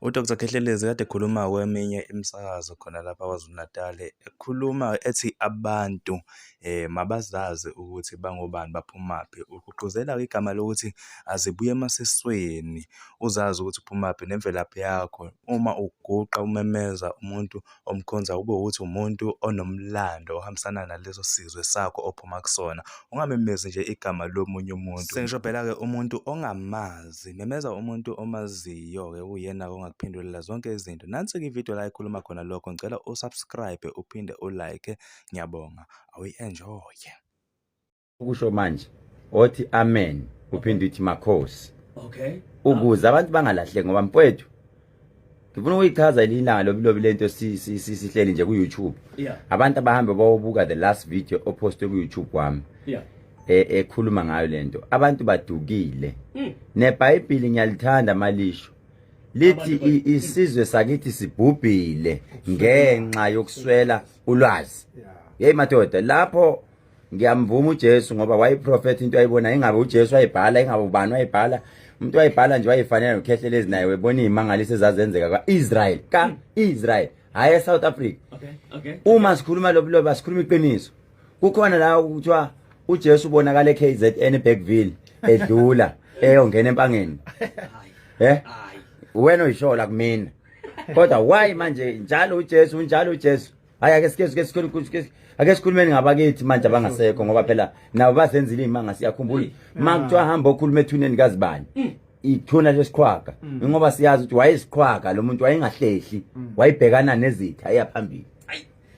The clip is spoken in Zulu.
UDr Khehlelezi kade ekhuluma kweminye imisakazo khona lapha KwaZulu-Natal ekhuluma ethi abantu eh mabazazi ukuthi bangobani baphumaphi ugqugquzela igama lokuthi azibuye emasisweni uzazi ukuthi uphumaphi nemvelaphi yakho uma uguqa umemeza umuntu omkhonza kube ukuthi umuntu onomlando ohambisana naleso sizwe sakho ophuma kusona ungamemezi nje igama lomunye umuntu sengisho phela ke umuntu ongamazi memeza umuntu omaziyo ke uyena ongakuphindulela zonke izinto nansi ke ivideo la ikhuluma khona lokho ngicela usubscribe uphinde ulike ngiyabonga awuyi enjoy ukusho manje othi amen uphinde uthi makhosi okay ukuze abantu bangalahleki ngoba mfowethu ngifuna ukuyichaza ililanga lobilobi lento sihleli nje ku-youtube abantu abahambe bawobuka the last video opostwe ku-youtube wami e, ekhuluma ngayo lento abantu badukile hmm. nebhayibhili ngiyalithanda malisho lithi isizwe sakithi sibhubhile ngenxa yokuswela ulwazi yeyi madoda lapho ngiyamvuma uJesu ngoba wayiprofetha into ayibona ingabe uJesu wayibhala ingabe ubani wayibhala umuntu wayibhala nje wayifanele nokhehlela ezinaye webona izimangaliso ezazenzeka kwaIsrael ka Israel hayi eSouth Africa okay okay uma sikhuluma lobuloba sikhuluma iqiniso kukhona la ukuthiwa uJesu ubonakala eKZN eBackville edlula eyongena empangeni eh wena uyishola kumina kodwa why manje njalo uJesu njalo uJesu hayi ake sike sike sike ake sikhulumeni ngabakithi manje abangasekho ngoba phela nabo bazenzile imanga siyakhumbula mm. makuthiwa hamba okhuluma ethuneni kazibani mm. ithuna lesiqhwaga mm. ngoba siyazi ukuthi wayesiqhwaga lo muntu wayengahlehli wayibhekana nezitha eyaphambili